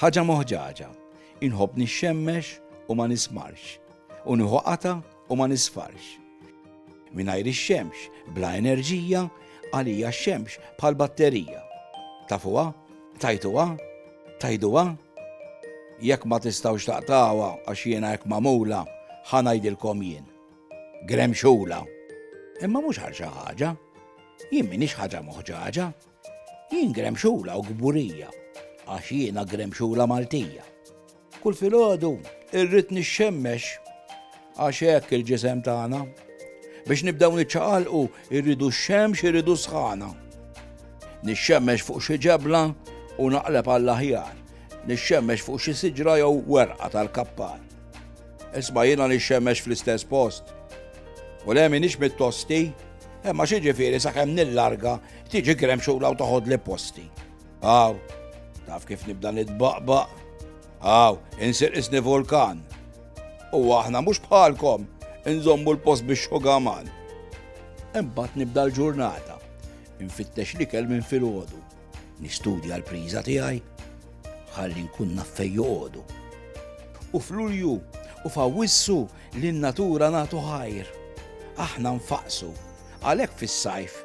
Ħaġa moħġaġa, inħobb nixxemmex u ma nismarx, u nieħu qata u ma nisfarx. Mingħajr ix-xemx, bla enerġija, għalija x-xemx bħal batterija. Tafuha? Tajtuha? Tajduha? Jekk ma tistgħux taqtawha għax jiena hekk magħmula, ħa ngħidilkom jien. Gremxula. Imma mhux għal xi ħaġa. Jien m'iniex ħaġa moħġaġa. Jien gremxula u gburija għax jiena gremxula Maltija. Kull filgħodu irrid nixxemmex għax hekk il-ġisem tagħna. Biex nibdew niċċaqalqu irridu x-xemx irridu sħana. Nixxemmex fuq xi ġebla u naqleb għall-aħjar. Nixxemmex fuq xi siġra jew werqa tal-kappar. Isma' jiena nixxemmex fl-istess post. U le m'iniex mit-tosti, imma x'jiġifieri sakemm nillarga tiġi gremxula u toħodli posti. Aw, taf kif nibda nitbaqbaq? Aw, insir qisni vulkan. U aħna mhux bħalkom inżommu l-post bix-xugaman. Imbagħad nibda l-ġurnata, infittex l-ikel minn filgħodu. Nistudja l-priża tiegħi ħalli nkun naf fejn joqogħdu. U f'Lulju u f'Awwissu lin natura nagħtu ħajr. Aħna nfaqsu, għalhekk fis-sajf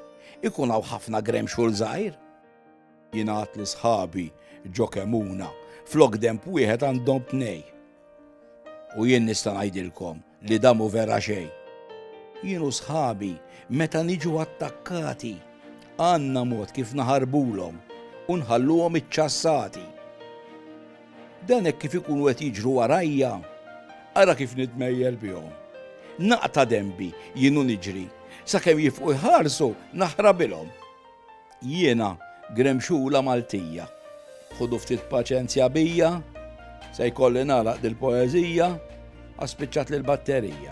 ikun hawn ħafna grem xogħol żgħir. Jingħad li sħabi ġo kemuna flok demp wieħed għandhom tnej. U jien nista' ngħidilkom li dan mhu vera xejn. Jien u sħabi meta niġu attakkati għandna mod kif naħarbulhom u nħalluhom iċċassati. Dan hekk kif ikunu qed jiġru warajja, ara kif nitmejjel bihom. Naqta' denbi jien u niġri, sakemm jifqu jħarsu naħrabilhom. Jiena gremxula Maltija. Ħudu ftit paċenzja bija, Se jkolli nagħlaq dil-poeżija, Għax spiċċatli l-batterija.